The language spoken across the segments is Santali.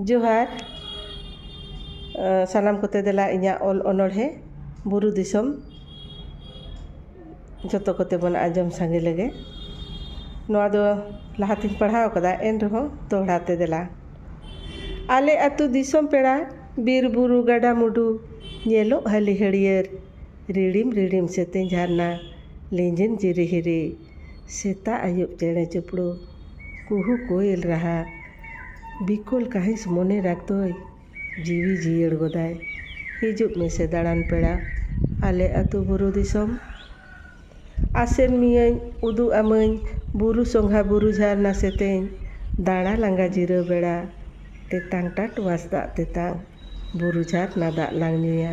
ᱡᱚᱦᱟᱨ ᱥᱟᱱᱟᱢ ᱠᱚᱛᱮ ᱫᱮᱞᱟ ᱤᱧᱟᱹᱜ ᱚᱞ ᱚᱱᱚᱬᱦᱮ ᱵᱩᱨᱩ ᱫᱤᱥᱚᱢ ᱡᱚᱛᱚ ᱠᱚᱛᱮ ᱵᱚᱱ ᱟᱸᱡᱚᱢ ᱥᱟᱸᱜᱮ ᱞᱮᱜᱮ ᱱᱚᱣᱟ ᱫᱚ ᱞᱟᱦᱟ ᱛᱮᱧ ᱯᱟᱲᱦᱟᱣ ᱠᱟᱫᱟ ᱮᱱ ᱨᱮᱦᱚᱸ ᱫᱚᱦᱲᱟ ᱛᱮ ᱫᱮᱞᱟ ᱟᱞᱮ ᱟᱛᱳ ᱫᱤᱥᱚᱢ ᱯᱮᱲᱟ ᱵᱤᱨ ᱵᱩᱨᱩ ᱜᱟᱰᱟ ᱢᱩᱰᱩ ᱧᱮᱞᱚᱜ ᱦᱟᱹᱞᱤ ᱦᱟᱹᱲᱭᱟᱹᱨ ᱨᱤᱲᱤᱢ ᱨᱤᱲᱤᱢ ᱥᱮᱛᱮᱧ ᱡᱷᱟᱨᱱᱟ ᱞᱤᱸᱡᱤᱱ ᱡᱤᱨᱤ ᱦᱤᱨᱤ ᱥᱮᱛᱟᱜ ᱟᱹᱭᱩᱵ ᱪᱮᱬᱮ ᱪᱩᱯᱲᱩ ᱠᱩᱦᱩ ᱠᱳᱭᱮᱞ ᱨᱟᱦᱟ ᱵᱤᱠᱚᱞ ᱠᱟᱹᱦᱤᱥ ᱢᱚᱱᱮ ᱨᱟᱜᱽ ᱫᱚᱭ ᱡᱤᱣᱤ ᱡᱤᱭᱟᱹᱲ ᱜᱚᱫᱟᱭ ᱦᱤᱡᱩᱜ ᱢᱮᱥᱮ ᱫᱟᱬᱟᱱ ᱯᱮᱲᱟ ᱟᱞᱮ ᱟᱹᱛᱩ ᱵᱩᱨᱩ ᱫᱤᱥᱚᱢ ᱟᱥᱮᱨ ᱢᱤᱭᱟᱹᱧ ᱩᱫᱩᱜ ᱟᱢᱟᱹᱧ ᱵᱩᱨᱩ ᱥᱚᱸᱜᱷᱟ ᱵᱩᱨᱩ ᱡᱷᱟᱨᱱᱟ ᱥᱮᱛᱮᱧ ᱫᱟᱬᱟ ᱞᱟᱸᱜᱟ ᱡᱤᱨᱟᱹᱣ ᱵᱮᱲᱟ ᱛᱮᱛᱟᱝ ᱴᱟᱴ ᱣᱟᱥ ᱫᱟᱜ ᱛᱮᱛᱟᱝ ᱵᱩᱨᱩ ᱡᱷᱟᱨᱱᱟ ᱫᱟᱜ ᱞᱟᱝ ᱧᱩᱭᱟ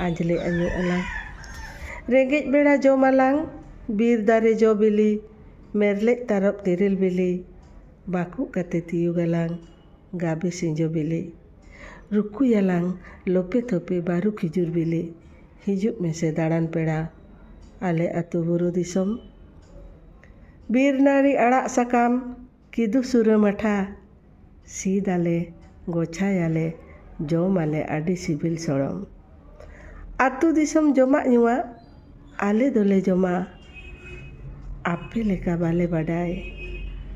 ᱟᱸᱡᱽᱞᱮ ᱟᱹᱧᱩ ᱟᱞᱟᱝ ᱨᱮᱸᱜᱮᱡ ᱵᱮᱲᱟ ᱡᱚᱢ ᱟᱞᱟᱝ ᱵᱤᱨ ᱫᱟᱨᱮ ᱡᱚ ᱵᱤᱞᱤ ᱢᱮᱨᱞᱮᱡ ᱛᱟᱨᱚᱵ ᱛᱮᱨᱮᱞ ᱵᱤᱞᱤ ᱵᱟᱠᱩᱜ ᱠᱟᱛᱮ ᱛᱤᱭᱩᱜᱽ ᱟᱞᱟᱝ ᱜᱟᱵᱮ ᱥᱤᱸᱡᱚ ᱵᱤᱞᱤ ᱨᱩᱠᱩᱭᱟᱞᱟᱝ ᱞᱚᱯᱮ ᱛᱷᱚᱯᱮ ᱵᱟᱹᱨᱩ ᱠᱷᱤᱡᱩᱨ ᱵᱤᱞᱤ ᱦᱤᱡᱩᱜ ᱢᱮᱥᱮ ᱫᱟᱬᱟᱱ ᱯᱮᱲᱟ ᱟᱞᱮ ᱟᱹᱛᱩ ᱵᱩᱨᱩ ᱫᱤᱥᱚᱢ᱾ ᱵᱤᱨ ᱱᱟᱹᱲᱤ ᱟᱲᱟᱜ ᱥᱟᱠᱟᱢ ᱠᱤᱫᱩ ᱥᱩᱨᱟᱹ ᱢᱟᱴᱷᱟ᱾ ᱥᱤᱫᱽ ᱟᱞᱮ ᱜᱚᱪᱷᱟᱭᱟᱞᱮ ᱡᱚᱢ ᱟᱞᱮ ᱟᱹᱰᱤ ᱥᱤᱵᱤᱞ ᱥᱚᱲᱚᱢ᱾ ᱟᱹᱛᱩ ᱫᱤᱥᱚᱢ ᱡᱚᱢᱟᱜ ᱧᱩᱣᱟᱜ ᱟᱞᱮ ᱫᱚᱞᱮ ᱡᱚᱢᱟ᱾ ᱟᱯᱮ ᱞᱮᱠᱟ ᱵᱟᱞᱮ ᱵᱟᱰᱟᱭ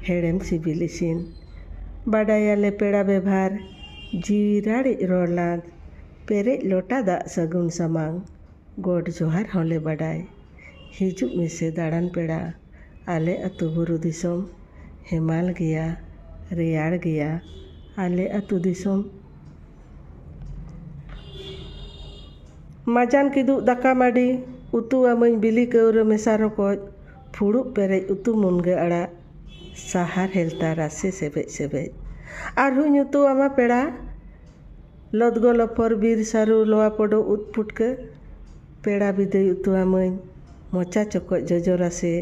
ᱦᱮᱲᱮᱢ ᱥᱤᱵᱤᱞ ᱤᱥᱤᱱ᱾ ᱵᱟᱰᱟᱭᱟᱞᱮ ᱯᱮᱲᱟ ᱵᱮᱵᱷᱟᱨ ᱡᱤᱣᱤ ᱨᱟᱲᱮᱡ ᱨᱚᱲ ᱞᱟᱸᱫᱽ᱾ ᱯᱮᱨᱮᱡ ᱞᱚᱴᱟ ᱫᱟᱜ ᱥᱟᱹᱜᱩᱱ ᱥᱟᱢᱟᱝ ᱜᱚᱰ ᱡᱚᱦᱟᱨ ᱦᱚᱸᱞᱮ ᱵᱟᱰᱟᱭ ᱦᱤᱡᱩᱜ ᱢᱮᱥᱮ ᱫᱟᱬᱟᱱ ᱯᱮᱲᱟ ᱟᱞᱮ ᱟᱹᱛᱩ ᱵᱩᱨᱩ ᱫᱤᱥᱚᱢ ᱦᱮᱢᱟᱞ ᱜᱮᱭᱟ ᱨᱮᱭᱟᱲ ᱜᱮᱭᱟ ᱟᱞᱮ ᱟᱹᱛᱩ ᱫᱤᱥᱚᱢ᱾ ᱢᱟᱡᱟᱱ ᱠᱤᱫᱩᱜ ᱫᱟᱠᱟ ᱢᱟᱹᱰᱤ ᱩᱛᱩ ᱟᱹᱢᱟᱹᱧ ᱵᱤᱞᱤ ᱠᱟᱹᱣᱨᱟᱹ ᱢᱮᱥᱟ ᱨᱚᱠᱚᱡ ᱯᱷᱩᱲᱩᱜ ᱯᱮᱨᱮᱡ ᱩᱛᱩ ᱢᱩᱱᱜᱟᱹ ᱟᱲᱟᱜ ᱥᱟᱦᱟᱨ ᱦᱮᱞᱛᱟ ᱨᱟᱥᱮ ᱥᱮᱵᱮᱡ ᱥᱮᱵᱮᱡ ᱟᱨᱦᱚᱸᱧ ᱩᱛᱩ ᱟᱢᱟ ᱯᱮᱲᱟ᱾ ᱞᱚᱫᱽᱜᱚ ᱞᱚᱯᱚᱨ ᱵᱤᱨ ᱥᱟᱹᱨᱩ ᱞᱚᱣᱟ ᱯᱚᱰᱚ ᱩᱫ ᱯᱩᱴᱠᱟᱹ ᱯᱮᱲᱟ ᱵᱤᱫᱟᱹᱭ ᱩᱛᱩ ᱟᱢᱟᱹᱧ ᱢᱚᱪᱟ ᱪᱚᱠᱚᱡ ᱡᱚᱡᱚ ᱨᱟᱥᱮ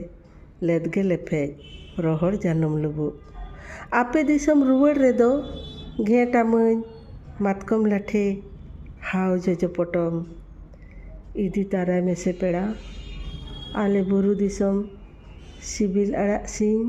ᱞᱮᱫᱽᱜᱮ ᱞᱮᱯᱷᱮᱡ ᱨᱚᱦᱚᱲ ᱡᱟᱱᱩᱢ ᱞᱩᱵᱩᱜ ᱟᱯᱮ ᱫᱤᱥᱚᱢ ᱨᱩᱣᱟᱹᱲ ᱨᱮᱫᱚ ᱜᱷᱮᱸᱴ ᱟᱢᱟᱹᱧ ᱢᱟᱛᱠᱚᱢ ᱞᱟᱴᱷᱮ ᱦᱟᱣ ᱡᱚᱡᱚ ᱯᱚᱴᱚᱢ ᱤᱫᱤ ᱛᱟᱨᱟᱭ ᱢᱮᱥᱮ ᱯᱮᱲᱟ ᱟᱞᱮ ᱵᱩᱨᱩ ᱫᱤᱥᱚᱢ ᱥᱤᱵᱤᱞ ᱟᱲᱟᱜ ᱥᱤᱧ᱾